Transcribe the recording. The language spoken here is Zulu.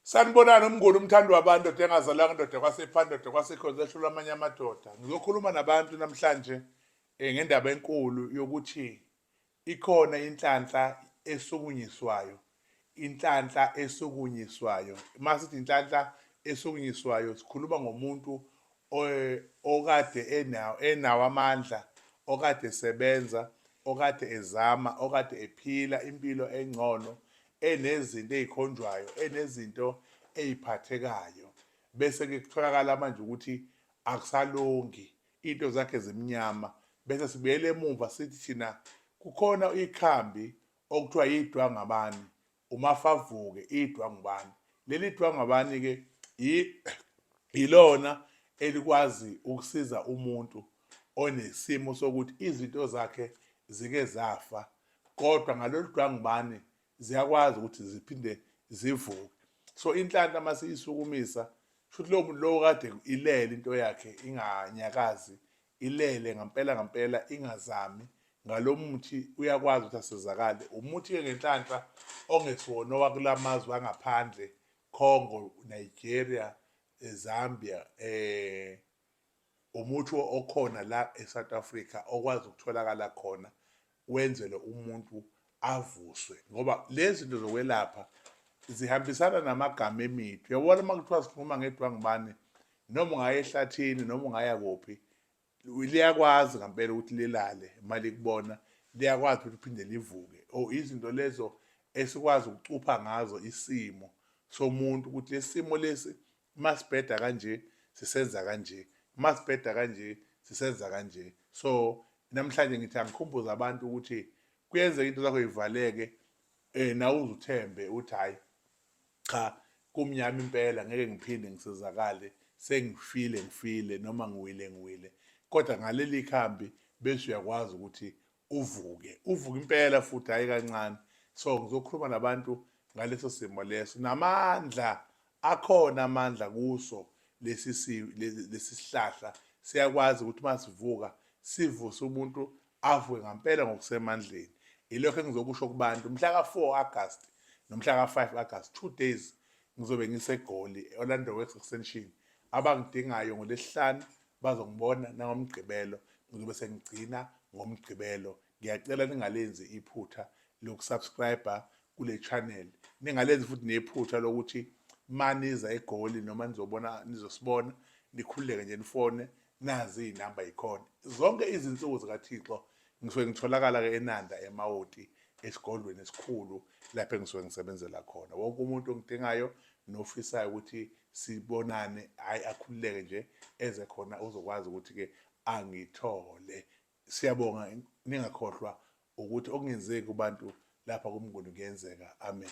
Sanibonani umnguni umthandi wabantu ndoda engazalanga ndoda kwasepha ndoda kwasekhonza ehlula amanye amadoda. Ngizokhuluma nabantu namhlanje eh, ngendaba enkulu yokuthi ikhona inhlanhla esukunyiswayo. Inhlanhla esukunyiswayo. Uma sithi inhlanhla esukunyiswayo sikhuluma ngomuntu eh, okade enawo enawo amandla, okade esebenza, okade ezama, okade ephila impilo engcono enezinto ezikhonjwayo enezinto eziphathekayo bese ke kutholakala manje ukuthi akusalungi into zakhe zimnyama bese sibuyele emuva sithi thina kukhona ikhambi okuthiwa yidwa ngabani umafavuke idwa ngubani leli dwa ngabani ke yilona elikwazi ukusiza umuntu onesimo sokuthi izinto zakhe zike zafa kodwa ngalolu dwangubani ziyakwazi ukuthi ziphinde zivuke so inhlanhla uma siyisukumisa shuthi lowo muntu lowo kade ilele into yakhe inganyakazi ilele ngampela ngampela ingazami ngalo muthi uyakwazi ukuthi asizakale umuthi-ke ngenhlanhla ongesiwona owakula mazwe angaphandle congo nigeria eh, zambia um eh, Umuthi okhona la eSouth Africa okwazi ukutholakala khona wenzele umuntu avuswe ngoba lezi zinto zokwelapha zihambisana namagama emithi uyabona uma kuthiwa sikhuluma ngedwangumane noma ungaya ehlathini noma ungaya kuphi liyakwazi ngampela ukuthi lilale uma likubona liyakwazi ukuthi liphinde livuke o oh, izinto lezo esikwazi ukucupha ngazo isimo somuntu ukuthi lesimo lesi uma sibheda kanje sisenza kanje uma sibheda kanje sisenza kanje so namhlanje ngithi angikhumbuza abantu ukuthi kuyenzeka into zakho ivaleke eh nawe uzuthembe uthi hayi cha kumnyama impela ngeke ngiphinde ngisizakale sengifile ngifile noma ngiwile ngiwile kodwa ngaleli khambi bese uyakwazi ukuthi uvuke uvuke impela futhi hayi kancane so ngizokhuluma nabantu ngaleso simo leso namandla akhona amandla kuso lesi lesi sihlahla siyakwazi ukuthi masivuka sivuse umuntu avuke ngampela ngokusemandleni ilokho engizokusho kubantu mhla ka-4 August nomhla ka-5 August two days ngizobe ngisegoli e-Orlando Works Extension abangidingayo ngolesihlanu Bazongibona nangoMgqibelo, ngizobe sengigcina ngoMgqibelo. Ngiyacela ningalenzi iphutha lokusubscriber kule channel. Ningalenzi futhi nephutha lokuthi maniza eGoli noma nizobona nizosibona nikhululeke nje nifone nazi iy'namba yikhona. Zonke izinsuku zikaThixo ngisuke ngitholakala-ke eNanda eMawoti esigodlweni esikhulu lapho engisuke ngisebenzela khona. Wonke umuntu ongidingayo nofisayo ukuthi sibonane hayi akhululeke nje eze khona uzokwazi ukuthi ke angithole siyabonga ningakhohlwa ukuthi okungenzeki kubantu lapha kumnguni kuyenzeka amen